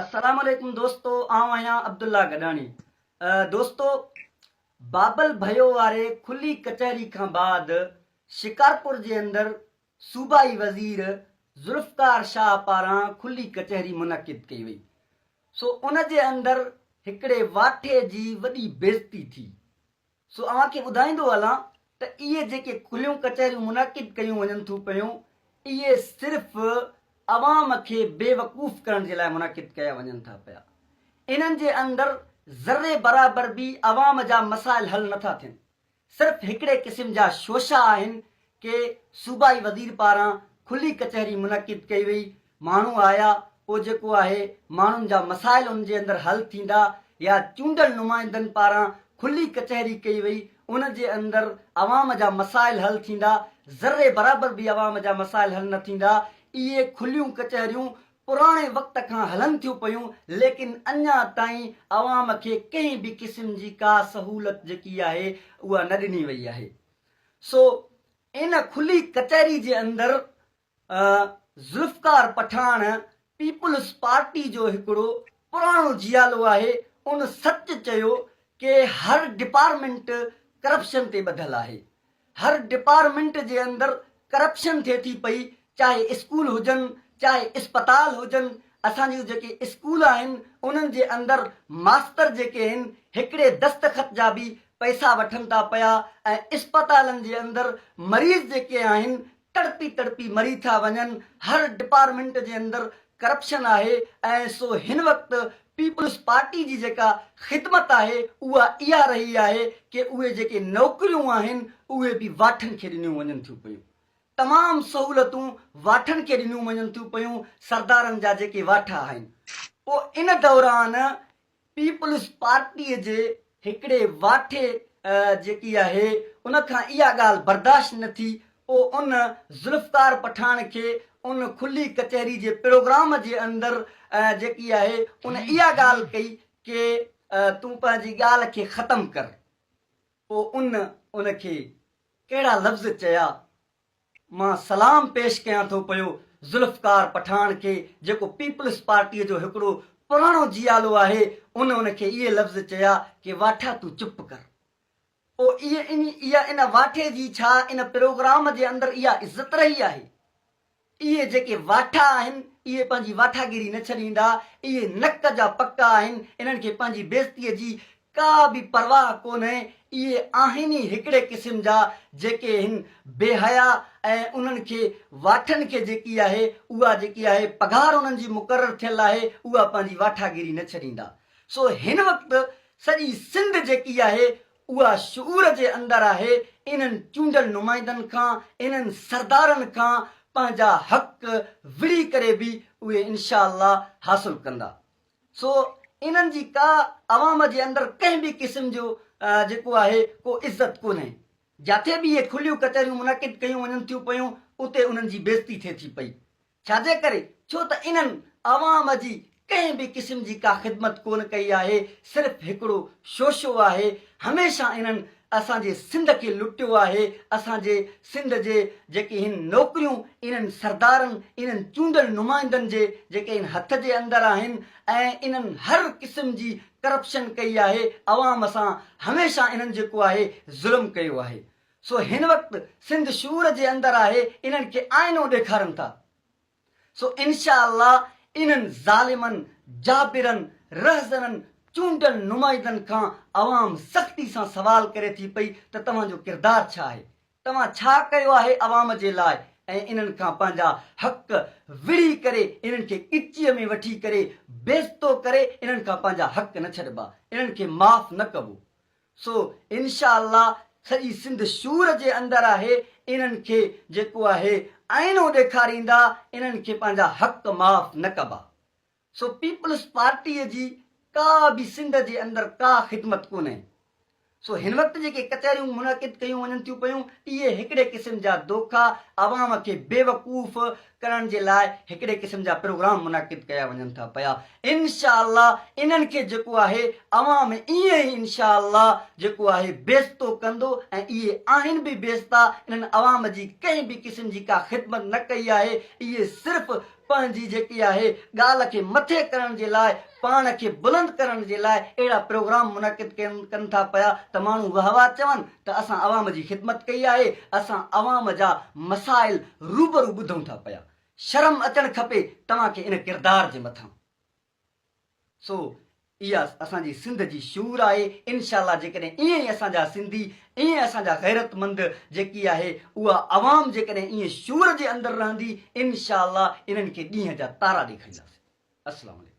السلام عليڪم دوستو آئون آهيان عبدالله گڏاڻي دوستو بابل ڀيو واري کلي ڪچهري کان بعد شڪارپور جي اندر صوبائي وزير ذوالفقار شاهه پاران کلي ڪچهري منعقد ڪئي وئي سو ان جي اندر هڪڙي واٺي جي وڏي بيزتي ٿي سو اوهان کي ٻڌائيندو هلان ته اهي جيڪي کليون ڪچهريون منعقد ڪيون وڃن ٿيون پيون، اهي صرف عوام کي بيوقوف ڪرڻ جي لاء منعقد ڪيا وڃن ٿا پيا. انهن جي اندر ذري برابر به عوام جا مسائل حل نٿا ٿين. صرف هڪڙي قسم جا شوشا آهن ڪي صوبائي وزير پاران کلي ڪچهري منعقد ڪئي وئي ماڻهو آيا پوء جيڪو آهي ماڻهن جا مسائل ان جي اندر حل ٿيندا يا چونڊل نمائندن پاران کلي ڪچهري ڪئي وئي ان جي اندر عوام جا مسائل حل ٿيندا ذري برابر به عوام جا مسائل حل نه ٿيندا اهي کليون ڪچهريون پراڻي وقت کان هلن ٿيون پيون ليڪن اڃا تائين عوام کي ڪنهن به قسم جي ڪا سهولت جيڪي آهي اها نه ڏني وئي آهي. سو ان کلي ڪچهري جي اندر ذوالفقار پٺاڻ پيپلز پارٽي جو هڪڙو پراڻو جيالو آهي ان سچ چيو ڪي هر ڊپارمينٽ ڪرپشن تي ٻڌل آهي هر ڊپارمينٽ جي اندر ڪرپشن ٿئي ٿي پئي چاهي اسڪول هجن چاهي اسپتال هجن اسان جون جيڪي اسڪول آهن انهن جي اندر ماستر جيڪي هن هڪڙي دستخط جا به پئسا وٺن ٿا پيا ۽ اسپتالن جي اندر مريض جيڪي آهن تڙپي تڙپي مري ٿا وڃن هر ڊپارمينٽ جي اندر ڪرپشن آهي ۽ سو هن وقت پيپلز پارٽي جي جيڪا خدمت آهي اها اها رهي آهي ڪي اهي جيڪي نوڪريون آهن اهي به واٺن کي ڏنيون وڃن ٿيون پيون تمام سهولتون واٺن کي ڏنيون وڃن ٿيون پيون سردارن جا جيڪي واٺ آهن پوء ان دوران پيپلز پارٽي جي هڪڙي واٺي جيڪي آهي ان کان اها ڳالهه برداشت نه ٿي پوء ان ذوالفقار پٺاڻ کي ان کلي ڪچهري جي پروگرام جي اندر جيڪي آهي ان اها ڳالهه ڪئي ڪي تون پنهنجي ڳالهه کي ختم ڪر. پوء ان ان کي ڪهڙا لفظ چيا؟ مان سلام پيش ڪيان ٿو پيو ذوالفقار پٺاڻ کي جيڪو پيپلز پارٽيء جو هڪڙو پراڻو جيالو آهي، ان ان کي اهي لفظ چيا ڪي واٺا تون چپ ڪر. پوء اهي ان اها ان واٺي جي ڇا ان پروگرام جي اندر اها عزت رهي آهي؟ اهي جيڪي واٺا آهن، اهي پنهنجي واٺاگيري نه ڇڏيندا، اهي نڪ جا پڪا آهن، انهن کي پنهنجي بيعزتيء جي ڪا به پرواهه ڪونهي، اهي آهن ئي هڪڙي قسم جا جيڪي هن بي حيا ۽ انهن کي واٺن کي جيڪي آهي اها جيڪي آهي پگهار انهن جي مقرر ٿيل آهي اها پنهنجي واٺاگيري نه ڇڏيندا سو هن وقت سڄي سنڌ جيڪي آهي اها شعور جي اندر آهي، انهن چونڊيل نمائندن کان، انهن سردارن کان پنهنجا حق وڙهي ڪري به اهي انشاء الله حاصل ڪندا. سو انهن جي ڪا عوام جي اندر ڪنهن به قسم جو جيڪو آهي ڪو عزت ڪونهي. جاٿي به اهي کليون ڪچهريون منعقد ڪيون وڃن ٿيون پيون، اتي انهن جي بيزتي ٿئي ٿي پئي. ڇا جي ڪري؟ ڇو ته انهن عوام جي ڪنهن به قسم جي ڪا خدمت ڪونه ڪئي آهي، صرف هڪڙو شوشو آهي، هميشه انهن اسان جي سنڌ کي لٽيو آهي، اسان جي سنڌ جي جيڪي هن نوڪريون انهن سردارن، انهن چونڊل نمائندن جي جيڪي هن هٿ جي اندر آهن ۽ انهن هر قسم جي ڪرپشن ڪئي آهي، عوام سان هميشه انهن جيڪو آهي ظلم ڪيو آهي، سو هن وقت سنڌ شعور جي اندر آهي انهن کي آئينو ڏيکارن ٿا سو انشاء الله انهن ظالمن جابرن رهزنن چونڊيل نمائندن کان عوام سختي سان سوال ڪري ٿي پئي ته توهان جو ڪردار ڇا آهي توهان ڇا ڪيو آهي عوام جي لاء ۽ انهن کان پنهنجا حق وڙهي ڪري انهن کي ڳچيء ۾ وٺي ڪري بيزتو ڪري انهن کان پنهنجا حق نه ڇڏبا انهن کي معاف نه ڪبو. سو انشاء الله سڄي سنڌ شور جي اندر آهي انهن کي جيڪو آهي آئينو ڏيکاريندا انهن کي پنهنجا حق معاف نه ڪبا سو پيپلز پارٽي جي ڪا به سنڌ جي اندر ڪا خدمت ڪونهي سو هن وقت جيڪي ڪچهريون منعقد ڪيون وڃن ٿيون پيون اهي هڪڙي قسم جا دوکا عوام کي بيوقوف ڪرڻ جي لاء هڪڙي قسم جا پروگرام منعقد ڪيا وڃن ٿا پيا انشاء الله انهن کي جيڪو آهي عوام ائين ئي انشاء الله جيڪو آهي بيستو ڪندو ۽ اهي آهن به بيستا انهن عوام جي ڪنهن به قسم جي ڪا خدمت نه ڪئي آهي اهي صرف پنهنجي جيڪي آهي ڳالهه کي مٿي ڪرڻ جي لاء پاڻ کي بلند ڪرڻ جي لاء اهڙا پروگرام منعقد ڪن ٿا پيا ته ماڻهو واه واه چون ته اسان عوام جي خدمت ڪئي آهي اسان عوام جا مسائل روبرو ٻڌون ٿا پيا شرم اچڻ کپي توهان کي ان ڪردار جي مٿان سو اها اسان جي سنڌ جي شعور آهي انشاء الله جيڪڏهن ائين ئي اسان جا سنڌي ائين اسان جا غيرت مند جيڪي آهي اها عوام جيڪڏهن ائين شعور جي اندر رهندي انشاء الله انهن کي ڏينهن جا تارا ڏيکارينداسين السلام عليڪم.